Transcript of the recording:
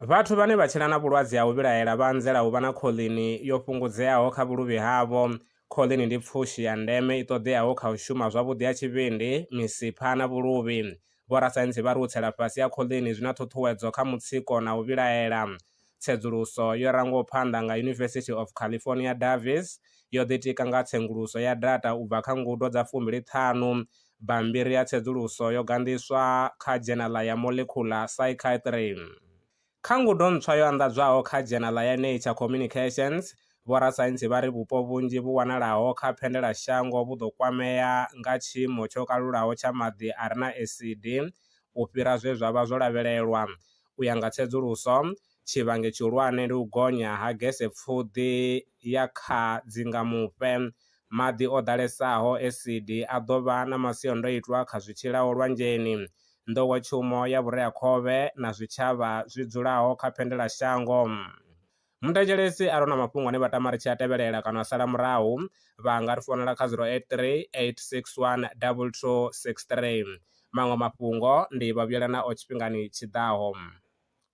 Vhathu vhane vha tshila na vhulwadze ha u vhilaela vha anzela u vha na khoḽini yo fhungudzeaho kha vhuluvhi havho. Khoḽini ndi pfushi ya ndeme i ṱoḓeaho kha u shuma zwavhuḓi ha tshivhindi, misipha na vhuluvhi. Vhorasaintsi vha ri u tsela fhasi ha khoḽini zwi na ṱhuṱhuwedzo kha mutsiko na u vhilaela. Tsedzuluso yo rangwaho phanḓa nga University of California Davis yo ḓitika nga tsenguluso ya data u bva kha ngudo dza fumbili ṱhanu Bammbiri ya tsedzuluso yo ganḓiswa kha dzhenaḽa ya Molecular Psychiatry. Kha ngudo ntswa yo anḓadzwaho kha dzhenaḽa ya Nature Communications, vhorasaintsi vha ri vhupo vhunzhi vhu wanalaho kha phendelashango vhu ḓo kwamea nga tshiimo tsho kalulaho tsha maḓi a re na esidi u fhira zwe zwa vha zwo lavhelelwa. U ya nga tsedzuluso, Tshivhangi tshihulwane ndi u gonya ha gesepfuḓi ya kha dzingamufhe. Maḓi o ḓalesaho, esidi, a ḓo vha na masiandoitwa kha zwi tshilaho lwanzheni, nḓowetshumo ya vhureakhovhe na zwitshavha zwi dzulaho kha phendelashango. Muthetshelesi a re na mafhungo ane vha tama ri tshi a tevhelela kana a sala murahu, vha nga ri founela kha 0838612263. Maṅwe mafhungo ndi vha vhuyela nao tshifhingani tshi ḓaho.